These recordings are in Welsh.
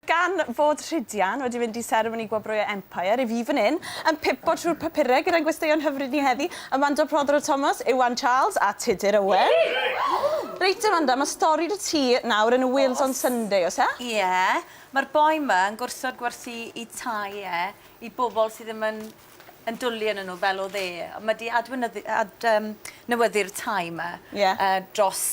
Gan fod Rhydian wedi mynd i seremoni gwobrwyo Empire, i fi fan hyn, yn pipo trwy'r papurau gyda'n gwesteion hyfryd ni heddi, Amanda Prothero Thomas, Iwan Charles a Tudur Owen. Reit Amanda, mae stori 'da ti nawr yn y Wales on Sunday, oes e? Ie, mae'r boi 'ma yn gwrthod gwerthu ei tai e i bobl sydd ddim yn yn dwli ynnyn nhw fel o'dd e. Ond ma' 'di adweinyddu- ad- yym newyddu'r tai 'ma... Ie. ...yy dros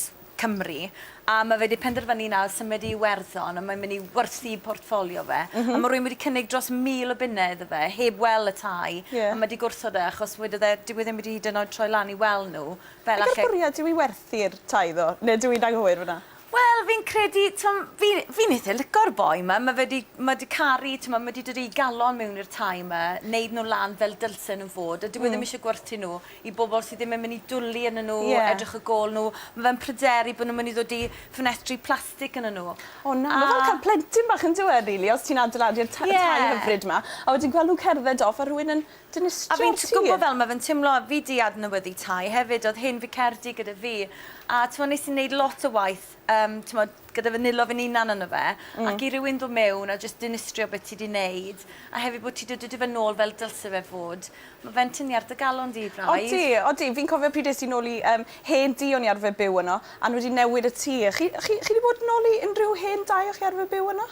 Cymru a ma' fe 'di penderfynu nawr symud i Iwerddon a mae'n myn' i werthu portffolio fe. M-hm. A ma' rywun wedi cynnig dros mil o bunne iddo fe heb wel' y tai. Ie. A ma' 'di gwrthod e achos wedodd e dyw e ddim wedi hyd yn oed troi lan i wel' nhw fel alle... Beth yw'r bwriad yw i werthu'r tai ddo? Ne' dw i'n anghywir f'yna? Wel fi'n credu t'm' fi fi'n itha lico'r boi 'ma ma' fe 'di ma' 'di caru t'mo' ma' 'di dod a'i galon miwn i'r tai 'ma neud nw lan fel dylsen nw fod a dyw e ddim isie gwerthu nw i bobol sy ddim yn myn' i dwli arnyn nw... Ie. ...edrych ar gôl nw ma' fe'n pryderu bo' nw'n myn' i ddod i ffenetri plastic arnyn nw. O na. A... Ma' fel ca'l plentyn bach on'd yw e rili os ti'n adeiladu'r ta- y... Ie. ...tai hyfryd 'ma a wedyn gwel' nw'n cerdded off a rhywun yn A fi'n gwbo fel ma fe'n timlo a fi di adnewyddu tai hefyd odd hen ficerdy gyda fi a t'mo nes i neud lot o waith yym t'mod gyda fy nilo fy'n unan yno fe ac i rywun do mewn a jyst dinistrio be ti di neud a hefyd bo ti do dy dy fe nôl fel dylse fe fod ma fe'n tynnu ar dy galon di braidd. Odi odi fi'n cofio pryd es i nôl i yym hen dŷ o'n i arfe byw yno a n'w wedi newid y tŷ a chi chi chi di bod nôl i unrhyw hen dai o chi arfe byw yno?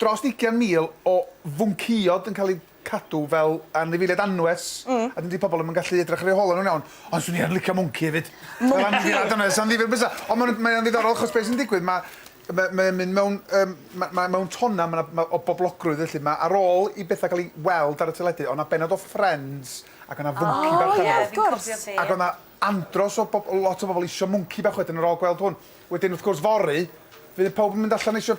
dros ugian mil o fwncïod yn cael eu cadw fel anifeiliaid anwes, a dydy pobl ddim yn gallu edrych ar eu holau nhw'n iawn, ond 'swn i yn licio mwnci hefyd. Fel anifeiliaid anwes, amddifir bysa. Ond mae'n, mae o'n ddiddorol achos be' sy'n digwydd, ma' ma' mae o'n mynd mewn yym ma' ma' mewn tonna, ma' 'na ma' o boblogrwydd felly, ma' ar ôl i betha cael ei weld ar y teledu, o' 'na bennod o Friends ac o' 'na fwnci bach arno fo. O ie, wrth gwrs. Ac o' 'na andros o bob- lot o bobl isio mwnci bach wedyn ar ôl gweld hwn. Wedyn wrth gwrs fory, fydd pawb yn mynd allan isio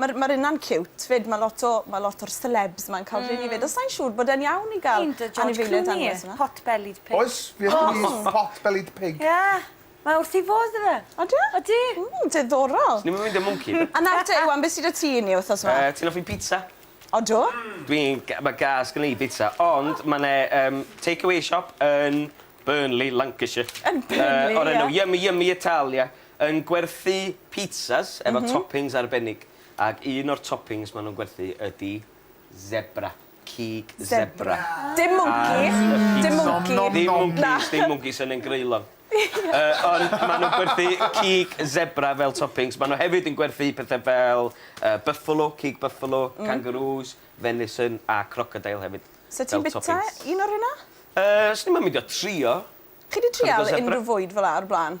Ma'r ma'r inna'n ciwt 'fyd ma' lot o ma' lot o'r selebs 'ma'n ca'l rheiny 'fyd a sai'n siŵr bod e'n iawn i ga'l anifeiliaid anwes yma. Pot-bellied pig. Oes fi ar frys pot-bellied pig. Ie. Mae wrth 'i fodd 'da fe. Odi e? Odi. Ww diddorol. Swn i'm yn meindio mwnci. A nawr te Iwan be' sy 'da ti i ni wthnos 'ma? Yy ti'n offi pizza? Odw. Dwi'n ga- ma' gas gen i i bizza ond ma' 'ne yym take away shop yn Burnley Lancashire. Yn Burnley ie? Yy o'r enw Yummy Yummy Italia Yn gwerthu pizzas efo toppings arbennig ac un o'r toppings ma' nhw'n gwerthu ydi zebra, cig zebra. Dim mwnci, dim mwnci. Dim mwncis, dim mwncis, hynny yn greulon. Ond ma' nhw'n gwerthu cig zebra fel toppings. Ma' nhw hefyd yn gwerthu pethe fel buffalo, cig buffalo, kangaroos, venison a crocodile hefyd fel toppings. 'Sa ti'n bita un o'r rheina? Yy, swn i'm yn meindio trio. Chi 'di trial unrhyw fwyd fel 'a o'r blaen?